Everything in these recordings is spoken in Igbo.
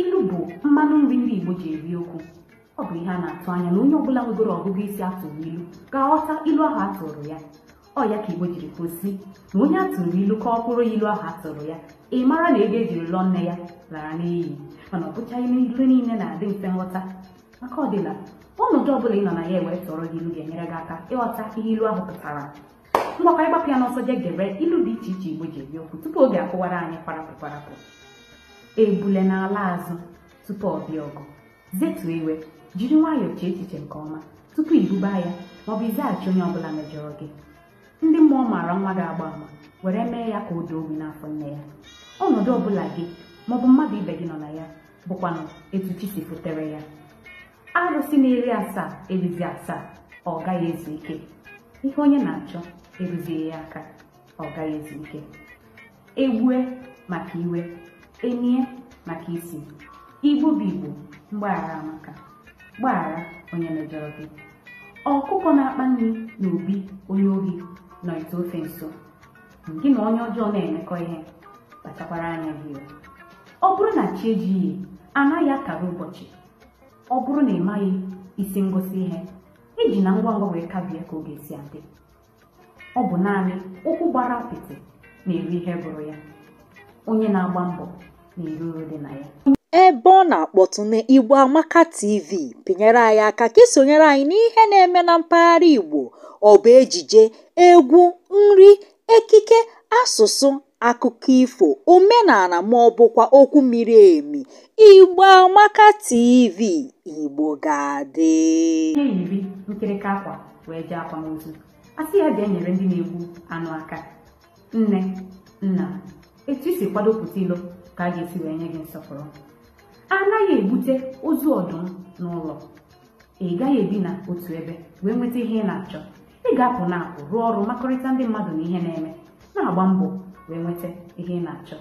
Ilu bụ mmanụ nri ndị Igbo ji eri okwu. Ọ bụ ihe a na-atụ anya na onye ọbụla nwegoro ọgụgụ isi atụrụ ilu ga-aghọta ilu ahụ atụrụ ya. Ọ ya ka Igbo jiri kwuo sị na onye atụrụ ilu kọwakwuru ya ilu ahụ atụrụ ya ị mara na ego ejiri lụọ nne ya lara n'iyi mana ọ bụchaghị na ilu niile na-adị mfe nghọta ma ka ọ dịla ọnọdụ ọbụla ị nọ na ya ewee tụọrọ gị ilu ga-enyere gị aka ịghọta ihe ilu ahụ pụtara ngwa ka anyị gbapụ ya n'ọsọ jee gere ilu dị iche iche igbo ji eri okwu tupu oge akụwara anyị kwarapụ kwarapụ ebule na-ala azụ tupu ọ bịa ọgụ zetuo iwe jiri nwayọọ chee echiche nke ọma tupu ibuba aya maọbụ ịzaghachi onye ọbụla mejọrọ gị ndị mmụọ maara nwa ga-agba ama were mee ya ka ọ daa ogbi n'afọ nne ya ọnọdụ ọbụla gị maọbụ mmadụ ibe gị nọ na ya bụkwanụ etu chi si fotere ya arụsị na-eri asaa erizighị asaa ọ gaghị ezu ike ihe onye na-achọ eruzighị ya aka ọ gaghị ezu ike egbue maka iwe enie maka isi igbo bụ igbo mgbaghara amaka gbaghara onye mejọrọ gị ọkụkọ na-akpa nri na obi onye ohi nọ ite ofe nso gị na onye ọjọọ na-emekọ ihe kpachakwara anya gị ọ bụrụ na chi ejighị anaghị akara ụbọchị ọ bụrụ na ị maghị isi ngwụsị ihe ejina ngwa ngwa wee kabie ka ọ ga-esi adị ọ bụ naanị ụkwụ gbara apịtị na-eri ihe gụrụ ya onye na-agba mbọ na-eri uru dị na ya ebe ọ na-akpọtụ na Igbo Amaka TV pịnyere anyị aka ka i sonyere anyị n'ihe na-eme na mpaghara Igbo ọ bụ ejije egwu nri ekike asụsụ akụkọ ifo omenala ma ọ bụkwa okwu miri emi igbo amaka tv igbo ga-adị onye yiri nkịrịka akwa wee jee akwamozu a sị ya bịa nyere ndị na-egbu anụ aka nne nna etu i si kwado pụta ilo ka a ga-esi wee nye gị nsọpụrụ a naghị ebute ozu ọdụm n'ụlọ ị gaghị ebi na otu ebe wee nweta ihe ị na-achọ ị ga-apụ na apụ rụọ ọrụ makọrịta ndị mmadụ na ihe na-eme na-agba mbọ wee nweta ihe ị na-achọ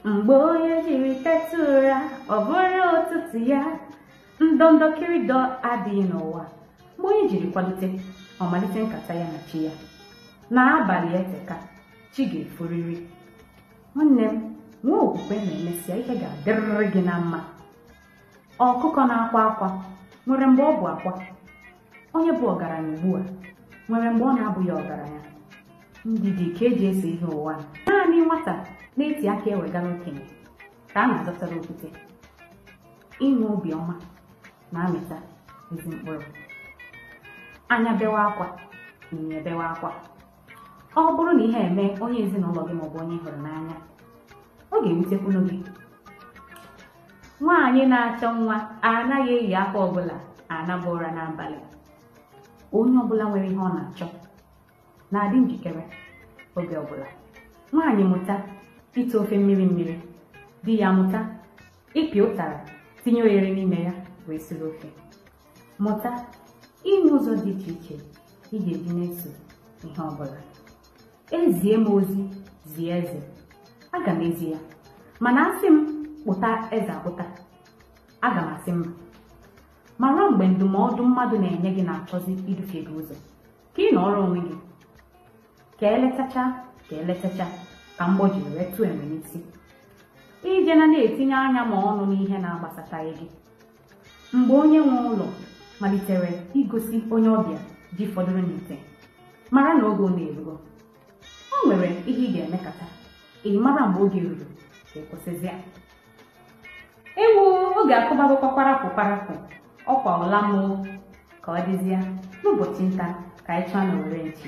mgbe onye jiri teta ụra ọ bụrụ ụtụtụ ya ndọndọ kịrịdọ adịghị n'ụwa mgbe onye jiri kwalite ọ malite nkata ya na chi ya na abalị eteka chi ga-eforiri nwanne m nwee okwukwe na emesịa ihe ga-adịrịrị gị na mma ọkụkọ na-akwa akwa nwere mgbe ọ bụ akwa onye bụ ọgaranya ugbu a nwere mgbe ọ na-abụghị ọgaranya ndidi ka eji eso ihe ụwa naanị nwata na-eti akụ ewegara okenye ka a na-azọtara okwute inwe obiọma na-amịta ezi mkpụrụ anya bewa akwa imi ebewa akwa ọ bụrụ na ihe emee onye ezinụlọ gị maọbụ onye ị hụrụ n'anya ọ ga-ewutekwunu gị nwaanyị na-achọ nwa anaghị eyi akwa ọbụla anaba ụra n'abalị onye ọbụla nwere ihe ọ na-achọ na-adị njikere oge ọbụla nwaanyị mụta ite ofe mmiri mmiri di ya amụta ịpị ụtara tinye oghere n'ime ya wee siri ofe Mụta inwe ụzọ dị iche iche ị ga-eji na-eso ihe ọ bụla. Ezie m ozi zie eze, aga m ezi ya, mana asị m kpụta eze akpụta, aga m asị mba. Mara mgbe ndụmọdụ mmadụ na-enye gị na-achọzi idufe gị ụzọ ka ị nọọrọ onwe gị ka eletacha ka eletacha ka mgbọ jiri wee tụọ enwe n'isi ejena na-etinye anya ma ọnụ n'ihe na-agbasataghị gị mgbe onye nwe ụlọ malitere igosi onye ọbịa ji fọdụrụ n'ite mara na oge ụna erugo o nwere ihe ị ga-emekata ị mara mgbe oge ruru ka ị kwụsịzi ya ewu oge akụbagokwa kwarapụ kwarapụ ọ kwa ụla m oo ka ọ dịzịa n'ụbọchị nta ka anyị chụọ n'owere nchi